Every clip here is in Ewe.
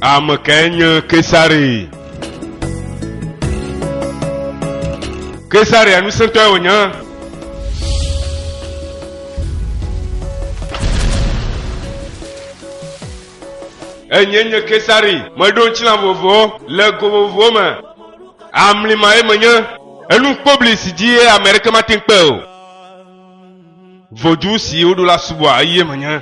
Ame kae nye Kesare? Kesarea ŋusẽtɔe wònye. Enye nye Kesare. Meɖo ŋutilã vovovowo le go vovovowo me. Amlima ye menye. Enu kpobli si dzi ye ame aɖeke mate ŋu kpe o. Vodu si woɖo la subɔa eye menye.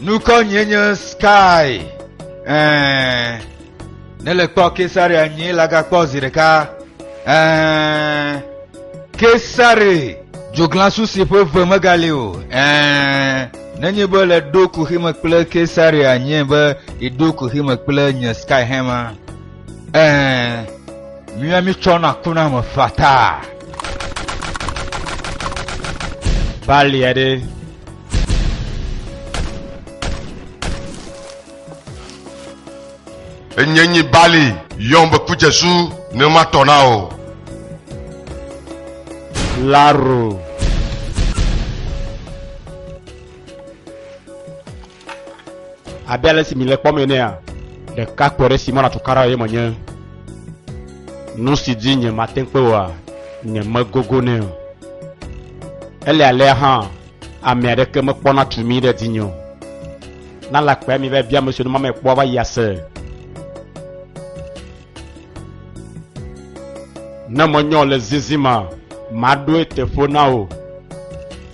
nukɔ nyie nye sky ɛɛ ne le kpɔ kesaria nyie la gakpɔ zi ɖeka ɛɛ kesari dzoglasu si ƒe ve megali o ɛɛ nenye be le ɖo kuxime kple kesaria nyie be iɖo kuxime kple nye sky hɛma Ɛɛ, mía mítsɔna kuna me fataa. Balia ɖe. Enye nyi Bali, yɔm be ku Jesu ne matɔ na o. Laro. Abe ale si mile kpɔm enea, ɖeka kpɔ ɖe Simona tukara eye menye nu si dzi nye mate kpe oa, nye megogo nɛ o. Ele alea hã, ame aɖeke mekpɔna tu mi ɖe dzinye o. Na lakpea mi va bia ame siwo ne mame kpɔa va yi ase. Ne menyɔ le zizima, maɖoe teƒo na wò.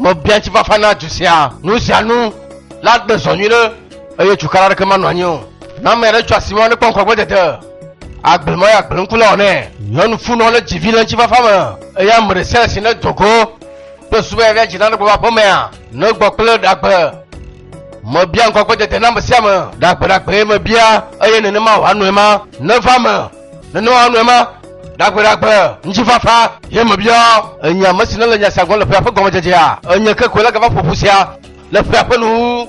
Mebia ŋutifafa na du sia. Nu sia nu la gbe zɔ nyuiɖe, eye tsukala aɖeke manɔ anyi o. Ne ame aɖe tso asi mɔ ne kpɔ ŋkɔagbedede, agblẽ mɔ yeagblẽ ŋku le ɔ nɛ. Nyɔnu funɔ lé dzi vi le ŋutifafa me, eye ame ɖe sia ɖe si nedo go kple subɔ ya ɖe dzi na ne gbɔ va aƒemea, negbɔ kple ɖagbe. Mebia ŋkɔagbedede na ame sia ame, ɖagbeɖagbee mebia, eye nenema wòanɔe ma neva eme. nenema nɔe ma ɖagbeɖagbe ŋutifafa ye mebia enye ame si nele nya sia gɔm le ƒea ƒe gɔmedzedzea enye ke koe la gava ƒoƒu sia le ƒea ƒe nu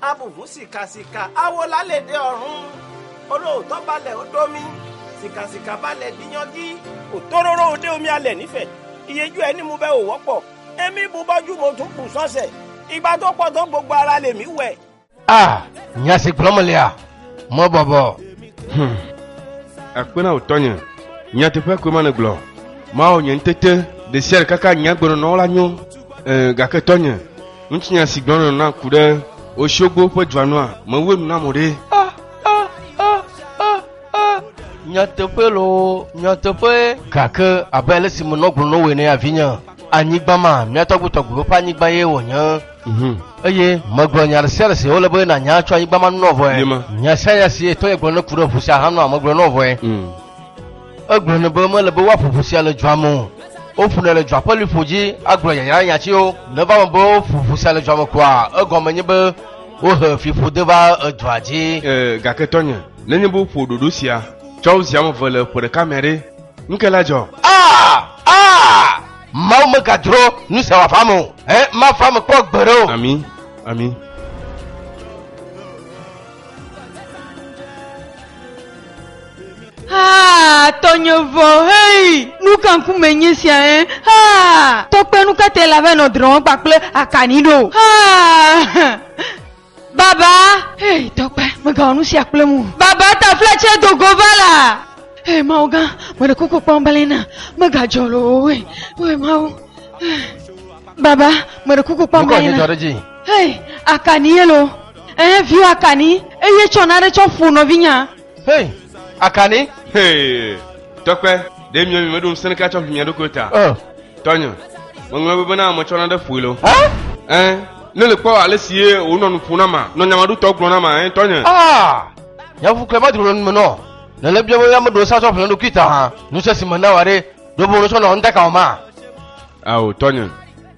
Abu ŋu sika sika awo la le ɖe ɔrun olo dɔ ba le oɖo mi sika sika ba le dinyɔgi o tororo o ɖe omi ale nife iye ju eni mu be o wɔkpɔ emi bu bɔ ju mo dun bu sɔse igba do kpɔ dɔ gbogbo ara le mi wɛ. A nya si gblɔm mele a mɔ bɔbɔ. Hmm. Akpe na wò tɔnye. Nyateƒe koe ma nègblɔ. Mawɔ nye ŋutete ɖe sia ɖe kaka nye agbenɔnɔ la nyo. Ee, gake tɔnye, Ŋutsinya si gblɔna na ku ɖe Oshogbo ƒe dua nua me wue nu na mo ɖe? Nyateƒe loo, nyateƒee. Gake abe ale si menɔ gblɔm na wò ene ya, vinye, anyigba ma, mía tɔgbuitɔgbuiwo ƒe anyigba ye wònye. Mhm. Eye megblɔ nya ɖe sia ɖe si wòle be nànya tso anyigba ma ŋu nɔ vɔe. Nye ma. Nya sia nya si etɔnye gblɔ ne ku ɖe ŋu sia hã nɔa megblɔe nɔ vɔe. Mm. Egblɔ nɛ be mele be woaƒo ʋu sia le dua me o. Woƒonɛ le dua ƒe liƒo dzi agblɔ yayrahiã tsiwo ne va eme be woƒo ʋu sia le dua me koa, egɔme nye be wohe fiƒode va edua dzi. E, gake tɔnye, nenye be woƒo ɖoɖo sia tsɔ wo zi ame eve le ƒe ɖeka mea ɖe, nu kae la dzɔ? A! A! Mawu megadro nu sia wòava eme o. Ẽ, mava eme kpɔ gbeɖe o. Ami, ami. Haa, tɔnye vɔ, hei, nu ka ŋku me nye sia ɛ? Haa, tɔkpe nu ka te la va nɔ drɔ̃m kpakple akani ɖo? Haa, baba, hei, tɔkpe, megawɔ nu sia kple mu. Baba taflatse do go va la. Hei, Mawu gã, meɖe kuku kpɔm bele na, megadzɔ loo, hei, hei, Mawu. Baba, meɖe kuku kpɔm bele na. Hei, akani ye lo. Ɛɛ, viwò Akani, eye tsɔ nane tsɔ ƒo nɔvinyea. Hey, Akani! Hey, Tɔkpe, ɖe miɔ mi meɖo ŋusẽ ɖeke atsɔ ƒi mia ɖokuiwo ta. Oh. Tɔnye, ŋeŋlɔe be bena metsɔ nane ƒoe lo. Hã? Ɛɛ, ne le kpɔ ale si ye wònɔ nu ƒom na ma, nɔ nyamaɖutɔ gblɔm na ma, ɛɛ, tɔnye. Ah! Nya ƒuƒu kae madro le nu me nɔ? Nèle biam be meɖo ŋusẽ atsɔ ƒi mia ɖokui ta hã. Ŋusẽ si mena wòa ɖe, ɖe wòbɔbɔ nɔ etsɔ nɔ ŋuta ka wò ma? Ao, tɔnye.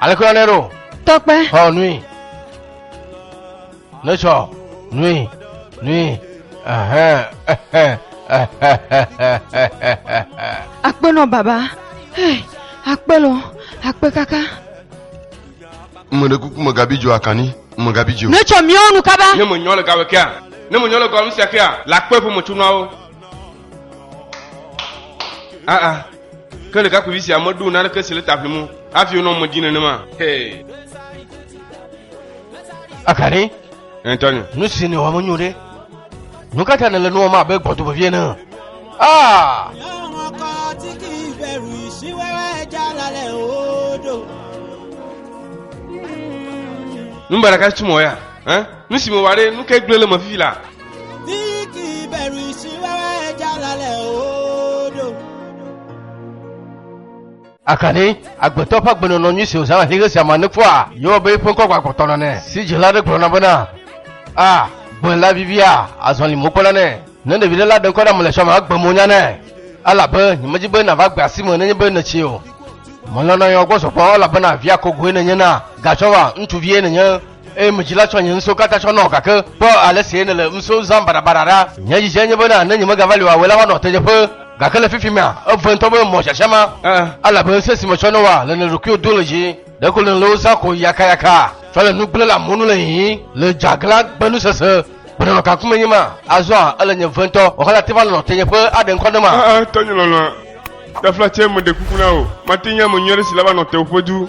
aleke yɔnɛ ɖo tɔkpe xɔ nui netsɔ nui nui ɛhɛn, ɛhɛn, ɛhɛhɛhɛhɛhɛhɛhɛ. akpe nɔ baba hey, akpe lɔ akpe kaka ŋmɛ ɖe kuku me gabi dzo akani ŋmɛ gabi dzo netsɔ miawo nu kaba ne mo nyɔ le gawe kea ne mo nyɔ le gawe nusia kea la kpe ƒe mo tsunuawo aa Ke ɖekakpuivi sia meɖo naneke si le ta ʋlim o hafi wònɔ eme dim nenema. Hey. Akani. Antonio. Nu si nèwɔ menyo ɖe. Nu ka ta nèle nu wɔm abe gbɔdo vevie ene? Ah! Nu ba ɖeka si tu mɔ ya. Eh? Nu si mewɔ ɖe, nu ke gblẽ le me fifi la. Akani, agbetɔ ƒe agbenɔnɔ nyui si wòzãna ʋĩɣe sia me nekpɔa? Yehowa be eƒe ŋkɔ gbagblɔtɔ nane si dzela aɖe gblɔna bena, A, gbe la vivia, azɔli mo kpɔna nɛ. Ne ɖevi ɖe la ɖe ŋkɔ ɖe ame le xɔa me agbe mo nya nɛ, elabe nyemedi be nàva gbe asi me nenye be nètsi o. Melɔ̃na yewoa gbɔ zɔgbɔ elabena via kogoe nènye na, gatsɔva, ŋutsuvie nènye. eye medzi la tsɔ nye ŋusẽwo katã tsɔ nɔ, gake kpɔ ale si nèle ŋusẽwo zãm baɖabaɖa ɖa. Nye dzidzia nye bena ne nyemegava li o awɔe la woanɔ teɖeƒe, gake le fifi mea, eve ŋutɔ be mɔ sia sia ma, elabe ŋusẽ si metsɔ nɔ woa, le nèɖe ɖokuiwò dom le dzi. Ɖeko nèle wo zãm ko yakayaka, tsɔ le nu gblẽ le amewo nu le hihi, le dzeaglã gbe nu sese. Gbenɔnɔ ka ŋkume nye ma? Azɔa ele nye ve ŋutɔ wɔxɔ la te va nɔnɔ tenyeƒe aɖe ŋkɔ ne ma? Aa, tɔnye lɔlɔ̃a, ɖe afla tsɛ, meɖe kuku na wò, mate ŋu nye ame nyui aɖe si la va nɔ tewòƒe du.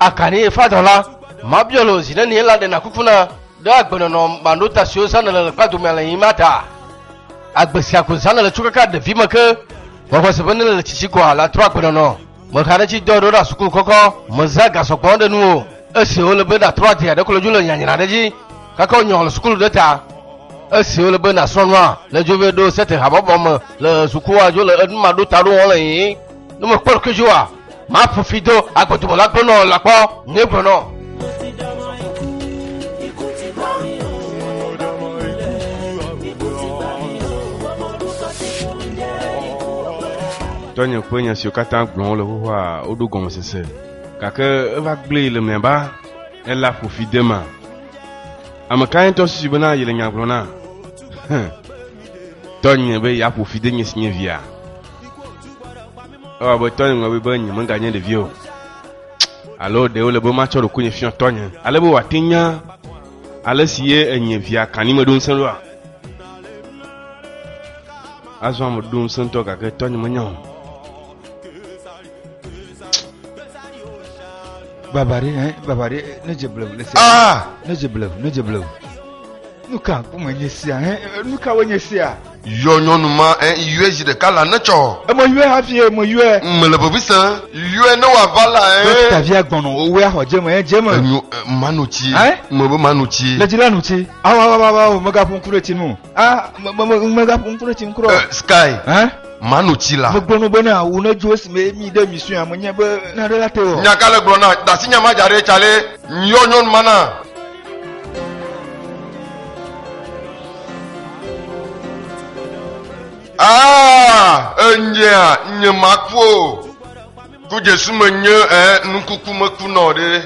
Akanie fadɔ la, mabiɔ lo zi nenie la ɖena kuku na ɖe agbenɔnɔ maɖo ta siwo zã nele le kpa domea le yima ta. Agbe sia ko zã nele tso kaka ɖevi me ke, gbɔgbɔ se be nele le tsitsi koa la trɔ agbenɔnɔ. Mexa ɖe tsi dɔ ɖo ɖa suku kɔkɔ, mezã ga sɔgbɔ ɖe nu o. Esi wole be natrɔ adia ɖe klo dzi le nyanyra ɖe dzi, kaka wò nyɔ le sukulu ɖe ta. Esi wole be nasrɔ nua, le dzo vɛ ɖo sete habɔbɔ me le sukua dzo le enu maɖo ta ɖo wɔn le yii. Ne mekpɔ ɖokuidzi wa, Maƒo fi do agbodubɔla gbɔnɔ lakpɔ ŋe gblɔnɔ. Tɔnye ƒe nya siwo katã gblɔm wole xoxoa woɖo gɔmesese, gake eva gblẽe le mlɔeba ela ƒo fi de ma. Ame kae ŋutɔ susu bena yele nya gblɔm na? Tɔnye be yeaƒo fi de nye si nye via. Ewa be tɔnye ŋlɔ be be nye meganye ɖevi o. Alo ɖe wole be matsɔ ɖokuinye fiɔ tɔnye. Ale be wòate nya ale si ye enye via kani meɖo ŋusẽ ɖoa. Azɔ ame ɖo ŋusẽ ŋutɔ gake tɔnye menya o. Baba ɖe, eh, baba ɖe, ne dze blewu le sia. Ah! Ne dze blewu, ne dze blewu. Nu ka ko menye sia, eh, nu ka wonye sia? Yɔ nyɔnu ma ɛ ŋ yɔɛ zi ɖeka la ne tsɔ. Ɛ mɔ yɔɛ hafi ɛ mɔ yɔɛ. Ŋ mele vevi sɛn yɔɛ ne wa va la ɛ. Ɖo tavia gbɔnɔ o wea xɔ jeme ɛ jeme. Enyo ɛ ma nu tsi ɛ ŋ me be ma nu tsi. Le dzi la nu tsi a wa wa wa wa o me ga ƒo ŋku ɖe tsi nu a me me me me ga ƒo ŋku ɖe tsi ŋkurɔ. Ɛ sky ɛ ma nu tsi la. Me gblɔ nu be ne a wu ne djo esi me mi ɖe mi sɔe a me nye be na ɖe la te wɔ. Nya ka le gblɔ na dasi nya ma dja ɖe tsa le ŋ yɔ nyɔnu ma na. Ah, enyea nye maku o. Ku Jesu me nye eh, nukuku meku nɔ ɖe.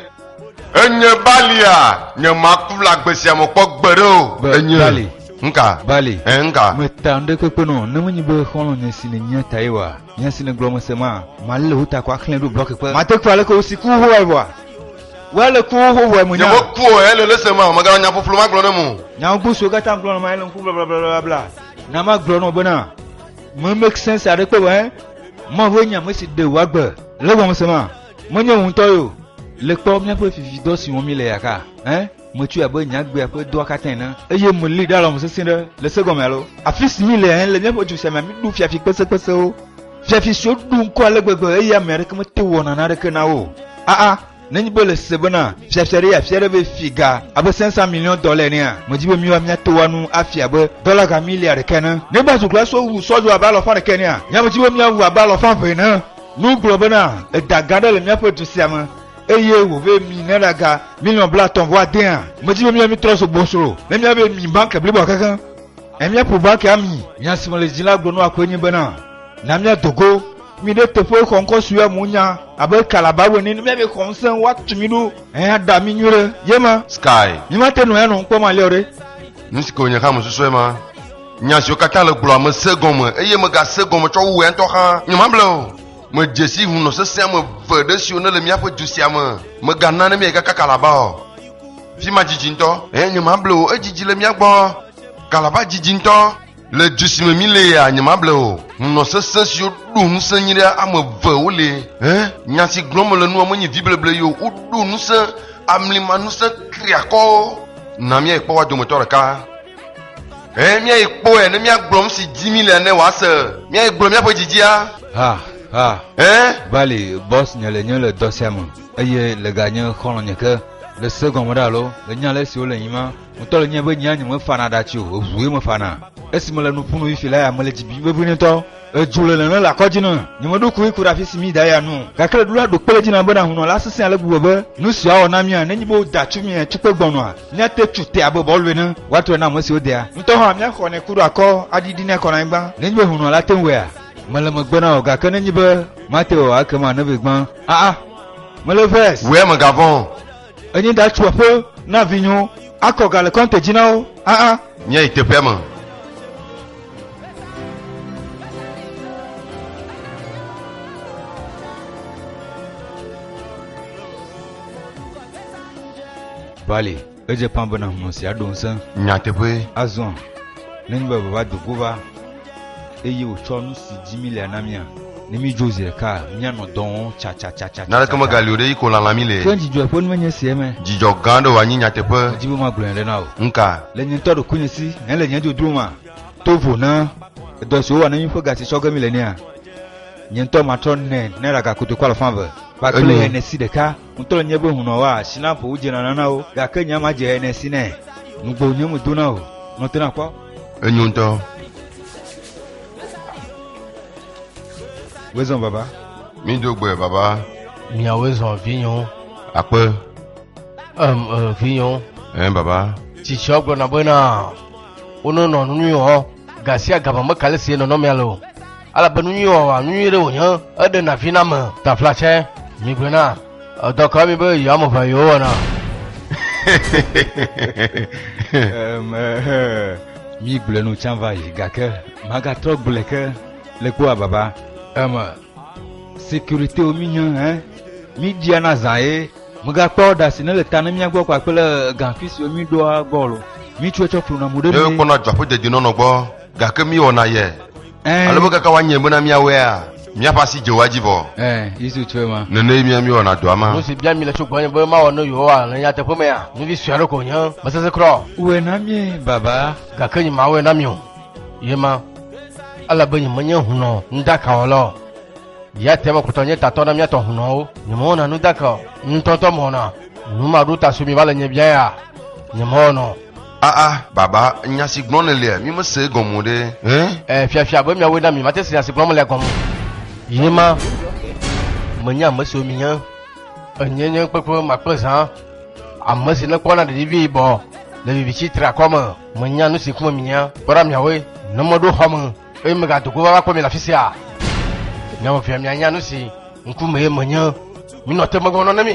Enye balia nye maku le agbe sia me kpɔ gbe ɖe o. Ba- Enye bali. nka Bali. eh, nka. Meta nu ɖe kpekpe nɔ ne menye be xɔlɔ̃nye si nènyia tae wa. Nya si nègblɔ mese maa? Mali le wo ta ko axlẽ ɖo blɔki kpe. Mate kura aleke wosi ku xoxoae vɔa? Wo ale ku xoxoae mo nya. Nyewo kuɔ ele le se maa? Mègana nya ƒuƒlu magblɔ ne mo. Nya gbogbo siwo katã ŋugblɔ na ma ele ŋku blablabla. Na magblɔ nɔ bena, me make sense aɖe kpe vɔe. Mawue nye ame si ɖe wò agbe. Le gɔmese maa? Menye wò ŋutɔ ye o. Le kpɔ míaƒe vividɔ si wɔm míele ya ka eh? Metsɔe abe nye agbea ƒe dɔa katã ene, eye melée ɖe alɔme sesĩe ɖe le se gɔme alo. Afi si míle le míaƒe du sia mea, míɖu fiafi kpesekpesewo, fiafi siwo ɖu ŋkɔ ale gbegbe eye ame aɖeke mete wɔ naneke na wo o. Aa, nenye be le se bena fiafia ɖe yeafia ɖe be fi ga abe sɛnsa miliɔn dɔ le enea, medi be míawo míate wɔ nu afia abe dɔla ga milia ɖeka ene. Nenye be azukulasowo wu sɔdzo abe alɔfa ɖeka enea, míate di be míawu abe alɔfa eve ene. Nu gblɔ bena eda gã aɖe le míaƒe du sia me. eye wòve mi ne ɖaga miliɔn blatɔ̃ vɔ adea medzi be mia mitrɔ so gbɔsro ne mia be mi banke blibo akeke ne mia ƒo banke ami nya si mele dzi la gblɔ nua koe nye bena na mia dogo mi ɖe teƒe xɔ ŋkɔ si ya mu nya abe kalaba wene ne mia be xɔ ŋusẽ woatu mi ɖo eya da mi nyuie ɖe ye ma sky mi ma te nɔ ya nɔ ŋkpɔ ma liɔ ɖe nu si ke wònye hã mesusue ma nya siwo katã le gblɔa me se gɔme eye mega se gɔme tsɔ wu wɔ ya ŋutɔ xa nyemable o Medze si hunɔ sesẽ ame eve ɖe siwo nele míaƒe du sia me. Mègana ne míagaka Kalaba o. Fi ma didi ŋutɔ. Eye nyemable o. Edzidzi le mía gbɔ. Kalaba didi ŋutɔ. Le du si me mílea, nyemable o. Hunɔ sesẽ siwo ɖo ŋusẽ nyui ɖe ame eve woli. Ẽ, nya si gblɔm mele nua menye vibleble ye o. Woɖo ŋusẽ amlima ŋusẽ triakɔwo. Na míayi kpɔ woa dometɔ ɖeka. Ɛ̃, míayi kpɔe ne míagblɔ nu si dim míele ne wòase. Míayi gblɔ míaƒe dzidzia. Ha, ha. Ɛ̃. Vali, Bɔs, nye le nye le dɔ sia me, eye le ga nye xɔlɔ̃nye ke, le se gɔme ɖe alo le nya le esi wole yim ma, ŋutɔ le nye be nyea nyemefana ɖati o, eŋue mefana. Esi mele nu ƒum no yi fi la ya mele dzi bim vevie ŋutɔ. Edzo le nene le akɔ dzi na nye meɖokui ku ɖe afi si mí da ya nu o, gake le ɖoɖa ɖokpe le dzi nam be na hunɔ la sesẽ ale gbegbe be nu si woawɔ na mía nenye be woda tsu mía tsukpe gbɔnɔa, míate tsu te abe bɔlu ene, woatrɔe na ame siwo dea. Ŋutɔ hã míaxɔnɛ ku ɖo akɔ aɖiɖinɛ akɔ na anyigba nenye be hunɔ la te ŋu wɔea? Mele megbe na wò, gake nenye be mate wɔa ekema nèvee gbã. Aa! Mele vers. Wòe megavɔ̃ o. Enyi da tso aƒe na vinyo akɔ ga le kɔnte dzi na wo. Aa. Nye yi teƒea me. Vale, edze pã bena hlɔ̃ sia ɖo ŋusẽ. Nyateƒe. Azɔ, nenye be vava do go va. eye wòtsɔ nu si dzi mílea na mía. Ne mídzo zi ɖeka, míanɔ dɔ wɔm tsatsatsatsa. Naneke megali o ɖe yi ko lalã mi le. Ke dzidzɔe ƒe nu menye esia me. Dzidzɔ gã aɖe wòanye nyateƒe. Medi be magblɔ nya ɖe na wò. Nuka? Le nye ŋutɔ ɖokuinye si, hɛn le nye dodro ma. To vo na edɔ si wowɔ na mí ƒe ga si tsɔ ge míle nɛa? Nye ŋutɔ matrɔ nɛ naira ga kotoku alafa eve kpakple ene si ɖeka. Ŋutɔ nye be hunɔ wa si na ƒo wodze nana na wo, gake nya ma dze ene si nɛ. Nugbo nye me dona o, nɔ tena kpɔ. Enyo ŋutɔ. Woe zɔn baba. Mi do gbe baba. Mia woe zɔn vinyo. Akpe. Em e vinyo. Em baba. Tsitsia gblɔ na be na. Wonɔ nɔ nunui hɔ. Gasia gama me kale si enɔ nɔ mia le o. ale be nu nyui wɔwɔa nu nyui ɖe wònye eɖe na vi na me tafla tsɛ migbe na edɔ ka mi be yewo ame ʋa yewo wɔna migblẽ nu tsã va yi gake magatrɔ gblẽ ke le kpɔa baba eme sécurité wo mi hã hein mi dia na zã ye mega kpɔ ɖa si ne le ta ne mia gbɔ kpa kple gaŋfi si mi ɖoa gɔl mi tsɔ tsɔ flu na mu ɖe mi. ne kpɔna dzɔƒe dedinɔnɔ gbɔ gake mi wɔna yɛ. Eh. Alebe kaka wanye bena míawɔea míaƒe asi dze woa dzi vɔ. Eh, Yesu tsoe ma. Nene mía míewɔna dɔa ma. Nu si bia mi le tso gbɔnye be mawɔ ne Yehowa le nyateƒe mea, nɔvi sue aɖe ko nye mesese kura o. Wòe na mie, Baba. Gake nyemawɔe na mi o. Ye ma, ele be nyemenye hunɔ nuɖakawɔla o. Ya te mekutɔ nye tatɔ na mía tɔ hunɔwo. Nyemewɔna nuɖaka o. Ŋutɔtɔ mewɔna nu maɖo ta so mi va le nye bia ya. Nyemewɔnɔ. Aa, baba, nya si gblɔm nèlea, mímesee gɔme o ɖe. Ẽ? Ɛɛ, Fiafia, gbe miawoe na mí, mate se nya si gblɔm mele gɔme o. Ye ma, menye ame siwo mihiã. Enyee nye kpekpe ma kple zã, ame si nekpɔna ɖeɖi vi yibɔ le viviti treakɔ me. Menya nu si ŋkume mihiã. Kpɔ ɖa miawoe, ne meɖo xɔ me. Eye megado go va kpɔ mi le afi sia. Nyawo via mianya nu si ŋkume ye menye. Minɔ te megɔnɔ ne mi.